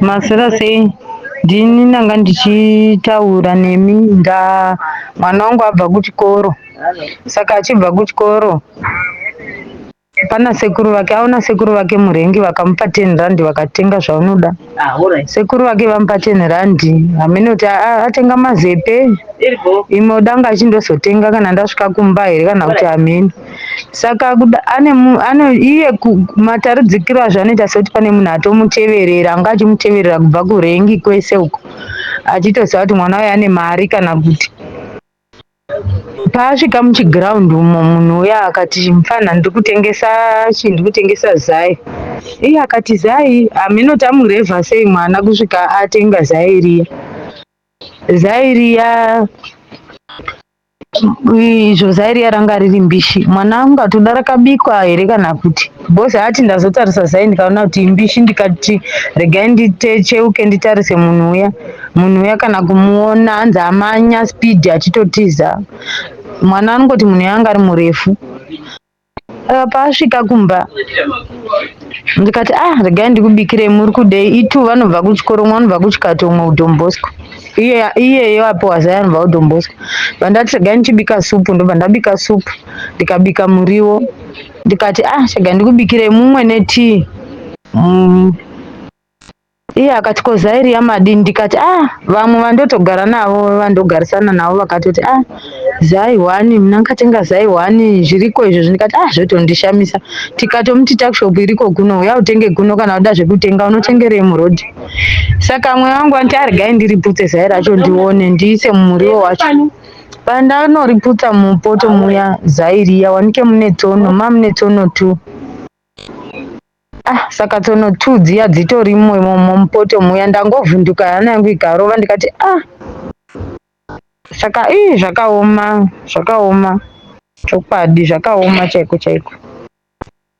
Maswera sei? Ndini ndanga ndichitaura nemi nda mwana wangu abva kuchikoro. Saka achibva kuchikoro pana sekuru vake aona sekuru vake murengi vakamupa 10 rand vakatenga zvaunoda. Sekuru vake vamupa 10 rand hameno kuti a- a- atenga mazepe imwe danga achindozvotenga kana ndasvika kumba here kana kuti hameno. saka kuda ane mu- ano iye ku- mataridzikiro azvo anoita sekuti pane munhu atomuteverera anga achimuteverera kubva kurengi kwese uko achitoziva kuti mwana uyu ane mari kana kuti paasvika muchiground umo munhu uya akati mfana ndiri kutengesa chi ndiri kutengesa zai iye akati zai hameno tamurevha sei mwana kusvika atenga zai riya zai riya izvo zairiya ranga riri mbishi mwana wangu ngati uda rakabikwa here kana kuti bos ati ndazotarisa zai ndikaona kuti imbishi ndikati regai nditecheuke nditarise munhu uya munhu uya kana kumuona anzi amanya speed achitotiza mwana anongoti munhu yanga ari murefu Eh, paasvika kumba ndikati ah regai ndikubikirei muri kudei itu vanobva kuchikoro umwe anobva kuchikati umwe kudombosco iye iyeyo apiwa zai anobva kudombosco vandati regai ndichibika supu ndobva ndabika supu ndikabika muriwo ndikati ah chega ndikubikirei mumwe netii Mm, Iye akati ko zairi yamadini ndikati ah vamwe vandotogara navo vandogarisana navo vakatoti ah zai hwani mna ndikatenga zai hwani zviriko izvozvi ndikati ah zvotondishamisa tikatomuti takshop iriko kuno uya utenge kuno kana uda zvekutenga unotengerei muroad saka amwe vangu vanti arigai ah, ndiriputse zai racho ndione ndiise mumuriwo wacho pandanoriputsa mupoto muya zai riya wanike mune tsono mamune tsono two ah saka tsono two dziya dzitori mupoto muya ndangovhunduka hana yangu ikarova ndikati ah saka ii zvakaoma zvakaoma chokwadi zvakaoma chaiko chaiko